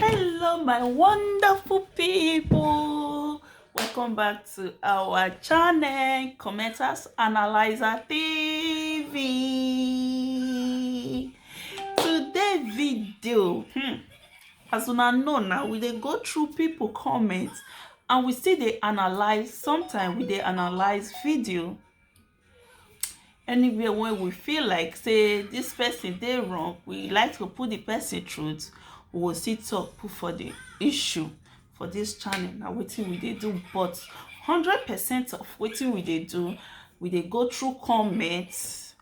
hello my wonderful people welcome back to our channel commenters analyzer tv today video hmm, as una know now we dey go through people comments and we still dey analyze sometimes we dey analyze video Anywhere wey we feel like sey dis person dey wrong, we like to put de person truth, we go still talk put for de issue for dis channel. Na wetin we dey do but hundred percent of wetin we dey do, we dey go through comments.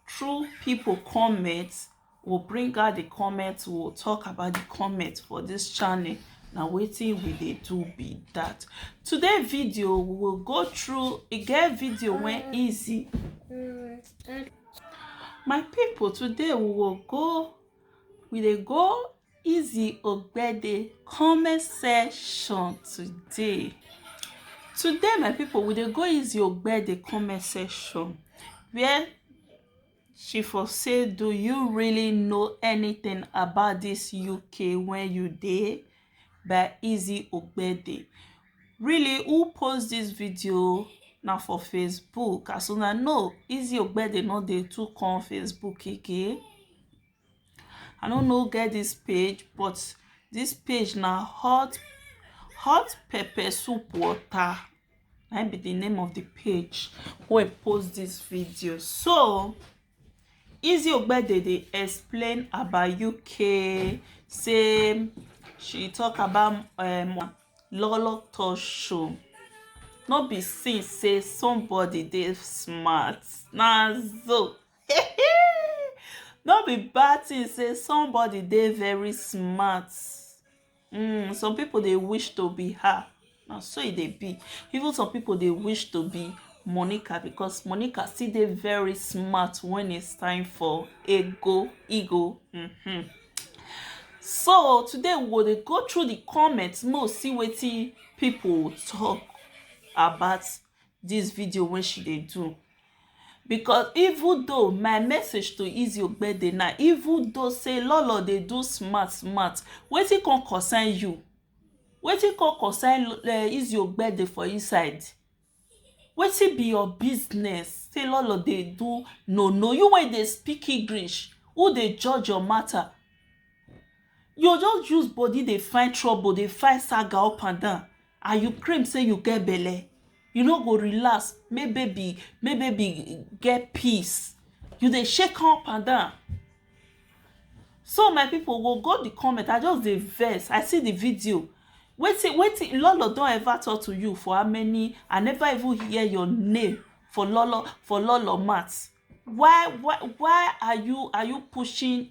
through people comments we'll bring out the comments we'll talk about the comments for this channel Now, waiting we dey do be that today video we will go through a get video when mm. easy mm, mm. my people today we will go we dey go Izzy Ogbede comment section today. Today, my people, we dey go Izzy Ogbede comment section where she for say, do you really know anything about this UK when you dey? By Izzy Ogbede. Really, who post this video? na for facebook as una know Izzy Ogbede no dey too come facebook again I no know who get this page but this page na hot hot pepper soup water na be the name of the page wey post this video so Easy Ogbede dey explain about UK say she talk about um, Lolo Talk Show no be since say somebody dey smart na so no be bad thing say somebody dey very smart um some people dey wish to be her na so e dey be even some people dey wish to be monica because monica still dey very smart when it's time for ego ego mm-hmm. so today we go dey go through the comments make we see wetin people talk about this video wey she dey do because even though my message to Izzy Ogbede na even though say Lolo dey do smart smart wetin come concern you wetin come concern uh, eh, Izzy Ogbede for inside wetin be your business say Lolo dey do no no you wey dey speak English who dey judge your matter you just use body dey find trouble dey find saga up and down and you claim say you get belle you no go relax make baby make baby get peace you dey shake am up and down so my people go go the comment i just dey vex i see the video wetin wetin lolo don ever talk to you for how many i never even hear your name for lolo for lolo mat why why why are you are you pushing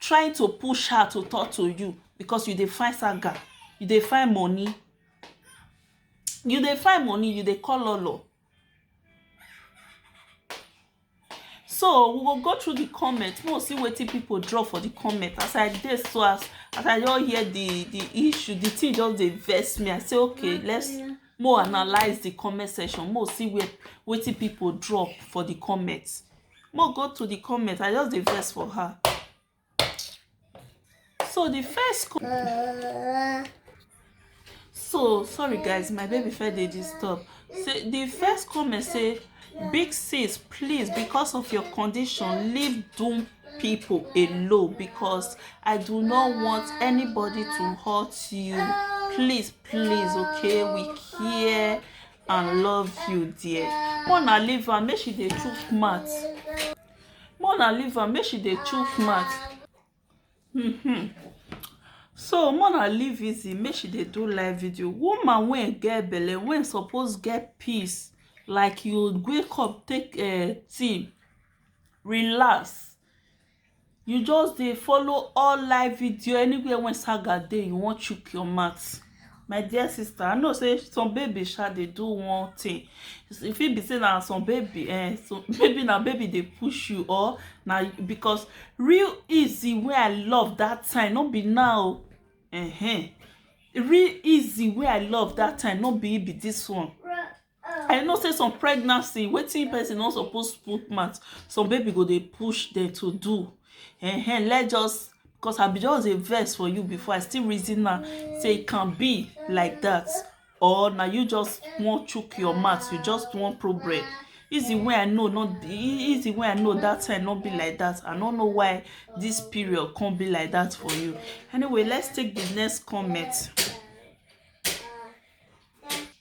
trying to push her to talk to you because you dey find saga you dey find money you dey find money you dey call lolo so we go go through the comment make we see wetin people drop for the comment as i dey so as as i don hear the the issue the thing just dey vex me i say okay let's mo analyse the comment section mo see where wetin people drop for the comment more go to the comment i just dey vex for her so the first so sorry guys my baby fed dey disturb say the first comment say big sis please because of your condition leave doom people alone because i do not want anybody to hurt you please please okay we care and love you dear more na leave am make she dey chook mouth more na leave am make she dey chook mouth mm-hmm. so more na leave easy make she dey do live video woman wey get belle wey suppose get peace like you wake up take uh, tea relax you just dey follow all live video anywhere when saga dey you wan chook your mouth my dear sister i know say some baby sha dey do one thing e fit be say na some baby eh so maybe na baby dey push you or na because real easy wey i love that time no be now uh -huh. real easy wey i love that time no be be this one i know say some pregnancy wetin person no suppose put mouth some baby go dey push dem to do uh-huh. let just because i be just a verse for you before i still reason now say it can be like that or now you just want chook your mouth you just want problem easy way i know not easy way i know that time not be like that i don't know why this period can't be like that for you anyway let's take the next comment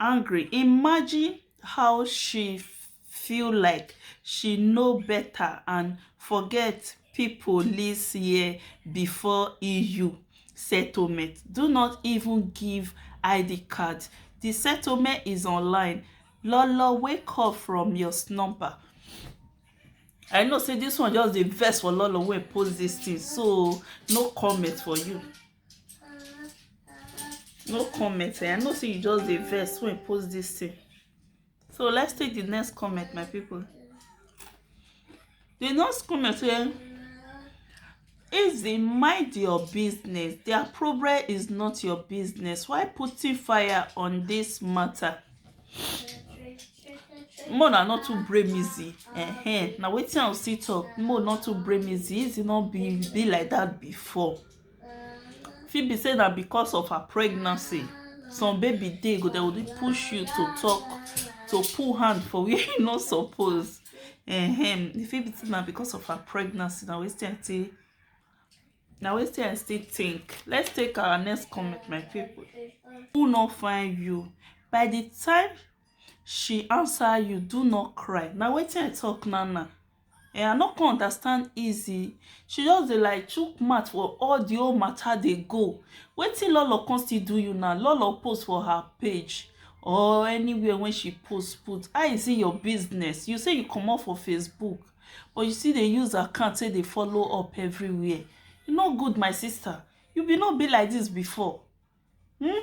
angry imagine how she feel like she no better and forget people lives year before EU settlement do not even give id card the settlement is online lolo wake up from your slumber I know say this one just dey vex for Lolo wey post this thing so no comment for you. no comment eh? i know say you just dey vex when you post this thing so let's take the next comment my people the next comment say eh? easy mind your business their problem is not your business why putting fire on this matter mo na not too brave easy uh-huh. na wetin i see talk mo not too brave easy easy not be be like that before fit be say na because of her pregnancy some baby dey go dey only push you to talk to pull hand for where you no suppose um, e fit be say na because of her pregnancy na wetin i still na wetin i still think let's take our next comment my people who no find you by the time She answer you do not cry na wetin I talk now now um I no come understand easy she just dey like chook mouth for all the whole matter dey go wetin Lolo come still do you now Lolo post for her page or anywhere wey she post put how is it your business you say you comot for Facebook but you still dey use account take dey follow up everywhere e no good my sister you be no be like this before Hmm?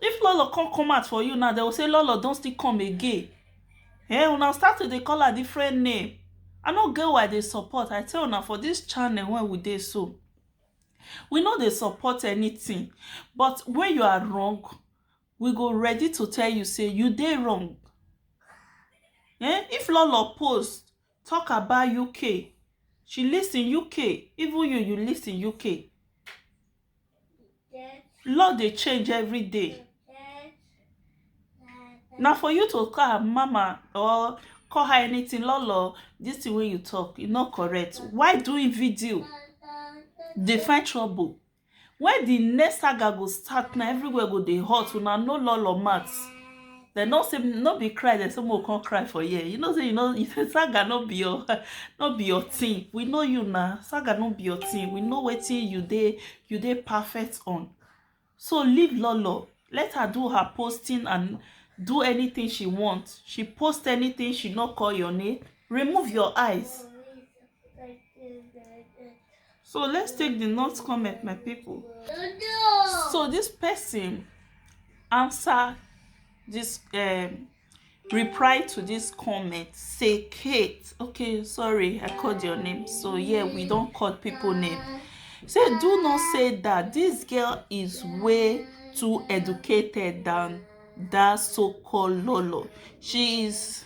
If Lolo come come out for you now, they will say Lolo don't still come again. Hey, eh, una start to dey call her different name. I no get why they support. I tell una for this channel when we dey so. We know they support anything, but when you are wrong, we go ready to tell you say you dey wrong. Eh? If Lolo post talk about UK, she lives in UK, even you, you live in UK. Law dey change every day na for you to call her mama or call her anything lolo this thing wey you talk e no correct why doing video dey find trouble when the next saga go start now everywhere go dey hot una know lolo max They no say no be cry They say mo come cry for here you know say you know saga no be your no be your thing we know you na saga no be your thing we know wetin you dey you dey perfect on so leave lolo let her do her posting and do anything she want she post anything she no call your name remove your eyes So let's take the notes comment, my people. So this person answer this um, reply to this comment say kate okay sorry i called your name so yeah we don't call people name say do not say that this girl is way too educated than that so-called lolo she is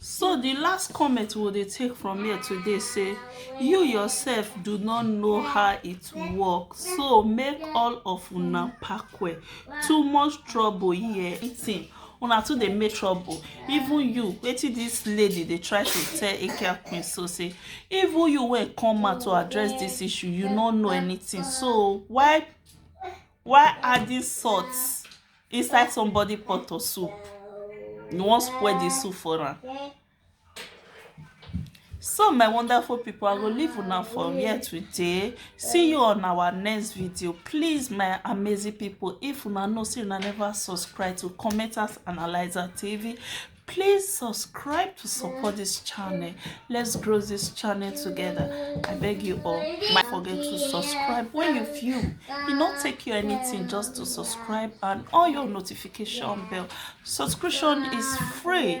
so the last comment we dey take from here today say you yourself do not know how it work so make all of una pack well too much trouble here eating una too dey make trouble even you wetin this lady dey try to tell akia queen so say even you wey come out to address this issue you no know anything so why why adding salt inside somebody pot of soup you wan spoil the soup for am so my wonderful people i go leave una for here today see you on our next video please my amazing people if una know say una never subscribe to commenters analyzer tv please subscribe to support this channel let's grow this channel together i beg you all don't forget to subscribe when you feel e no take you anything just to subscribe and all your notification bell subscription is free